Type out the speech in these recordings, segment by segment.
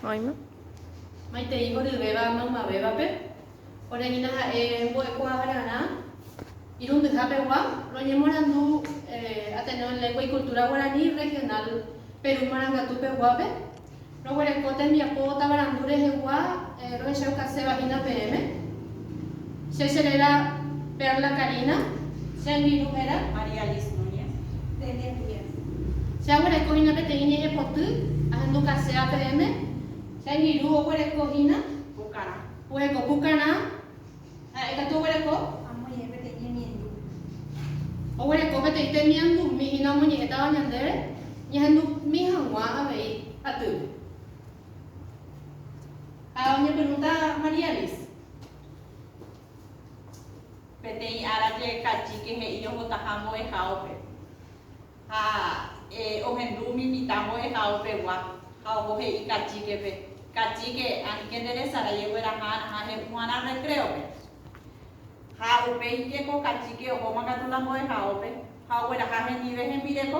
Oĩma. Maitei oryvéva maymavévape, ore hína ha'e mbo'ekuaa rarã irundyha pegua, roñemorandu Ateneo en Lengua y Cultura Guaraní Regional Perú Marangatu peguápe, roguereko tembiapo tavarandu rehegua rohechaukase va hína peẽme. Che che réra Perla Karina. Che rmiru héra María Alice Núñez. Nde ñembyre. Che aguereko hína peteĩ ñe'ẽpoty ahendu kase APM. Che rmiru oguereko hína. Pukarã. Oheko Pukarã. Ha'e katu oguereko. Amoñe'ẽ peteĩ ñemiendu. Oguereko peteĩ temiandumi hína omoñe'ẽtava ñandéve ñahendumi hag̃ua avei atýpe. Ha oñepyrũta María Alice. Peteĩ ára jeheka Chike he'i ohotaha mbo'ehaópe ha ohendu umi mitã mbo'ehaópegua ha oho he'i kachíkepe, Kachíke, aníke nde resarái egueraha ha he'u g̃uarã recréope. Ha upéi jeko kachíke ohóma katu la mbo'ehaópe ha ogueraha hendive hembireko.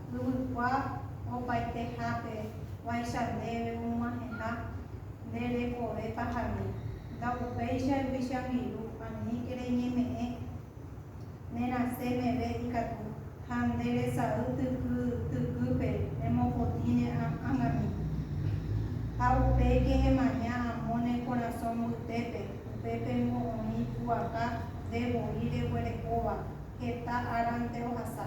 Yvykua opaitehápe guáicha ndéve omoaheha nde rekove pahare, ndaupéicha ruvicha viru aníke reñeme'ẽ ne rasẽ meve ikatu, ha nde resay tyky tykýpe remopotĩ ne ángami. Ha upe kehemaña amo ne korasõ mbytépe, upépe ningo oĩ pu'aka nde voi reguerekóva heta árante ohasa.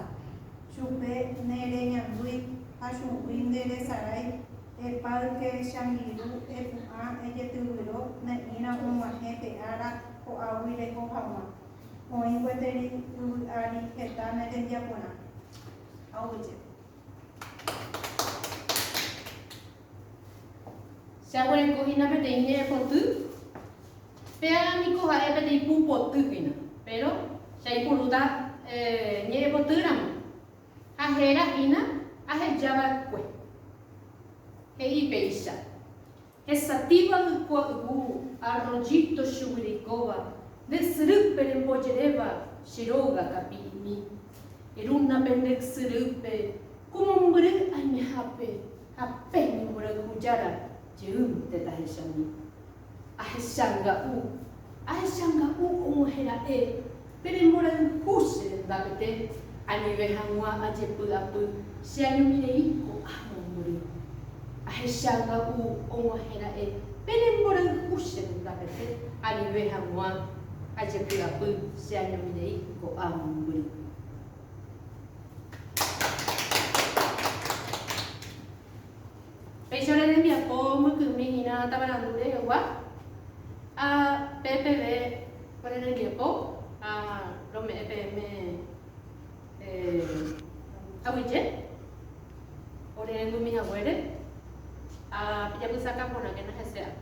Chupe ne reñandúi ha chugui nde resarái, epa yke chamiru epu'ã ejetyvyro ne'ĩra og̃uahẽ pe ára ko'águi reko haguã. Oĩ gueteri yvy ári heta ne rembiaporã. Oúje. Jaguereko hína peteĩ ñe'ẽpoty. Péaga niko ha'e peteĩ pu poty hína, péro jaipurúta ñe'ẽpotýramo ha héra hína aheja va'ekue. He'i péicha. Hesatĩva ykua yvu arroyito chuguyrikóva nde syrýpe rembojeréva che róga kapi'imi. Erúna pende ysyrýpe ku mombyry aimehápe ha pe ñemborayhujára jeýnte tahechami. Ahechanga'u, ahechanga'u og̃uahẽ ra'e pe remborayhu che rendápete, anive hag̃ua ajepy'apy che añomirei ko'ã mombyry. Ahechanga'u og̃uahẽ ra'e pe remborayhu che rendápete, anive hag̃ua ajepy'apy che añomirei ko'ã mombyry. Péicha rembiapo mykymi hína tavarandu rehegua, ha pe peve ore rembiapo ha rome'ẽ peẽme aguyje ore rendumi haguére, ha pejapysaka porãkena hese ápe.